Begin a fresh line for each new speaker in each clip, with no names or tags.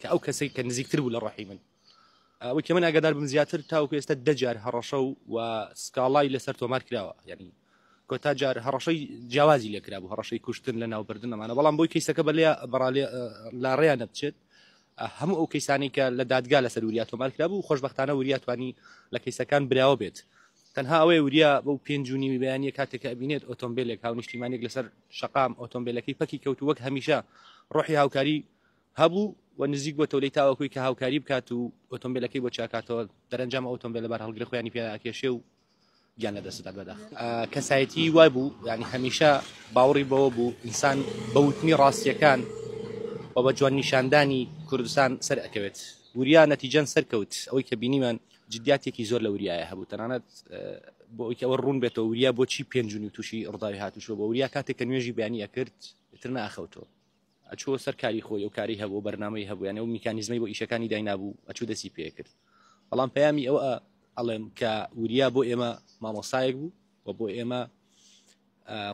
کە ئەو کەسەی کە نزیکتر بوو لە ڕۆحی من ئەوەی کە من ئاگادار بم زیاتر تاوکو ئێستا دەجار هەڕەشە و و سکاڵای لەسەر تۆمار کراوە یعنی کۆتا جار هەڕەشەی جیاوازی لێکرا بوو هەڕەشەی کوشتن لە ناوبردن ئەمانە بەڵام بۆی کەیسەکە بە لێ بەڕالێ لاڕێیان نەبچێت هەموو ئەو کەیسانی کە لە دادگا لەسەر وریا تۆمار کرا بوو خۆشببختانە وریا توانی لە کەیسەکان براوە بێت تەنها ئەوەی وریا بەو پێنجونی ویبیانە کاتێکە ئەبینێت ئۆتۆمبیلێک هاونیشتیمانێک لەسەر شقام ئۆتۆمبیلەکەی پەکی کەوت وەک هەمیشە ڕۆحی هاوکاری هەبوو و نزیک بۆتەوە لێی تاوەکوی کە هاوکاری بکات و ئۆتۆمبیلەکەی بۆ چاکاتەوە دەرەنجام ئۆتۆمبیلە بار هەڵگرە خۆیانی پێ ئەکێشێ و گیان لە دەستدا بەدا کەسایەتی وای بوو ینی هەمیشە باوەڕی بەوە بوو ئینسان بەوتنی ڕاستیەکان و بە جوان نیشاندانی کوردستان سەر ئەکەوێت وریا نەتیجەن سەرکەوت ئەوەی کە بینیمان جددیاتێکی زۆر لە وریایە هەبوو تەنانەت بۆ ئەوکە ئەوە ڕوون بێتەوە وریا بۆچی پێنجونی تووشی ڕداوی هاتوشوە بۆ وریا کاتێک کە نوێژی بیانی ئەکرد تر ناخەوتەوە ئەچووە سەر کاری خۆی و کاری هەبوو بەرنمەی هەبوو یانە و میکانیزمی بۆ ئیشەکانی داینابوو ئەچوو دەسی پێکرد بەڵام پەیامی ئەوە ئەڵێم کە وریا بۆ ئێمە مامۆستایەک بوو و بۆ ئێمە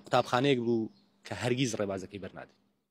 قوتابخانەیەک بوو کە هەرگیز ڕێبازەکەی بەرنادێت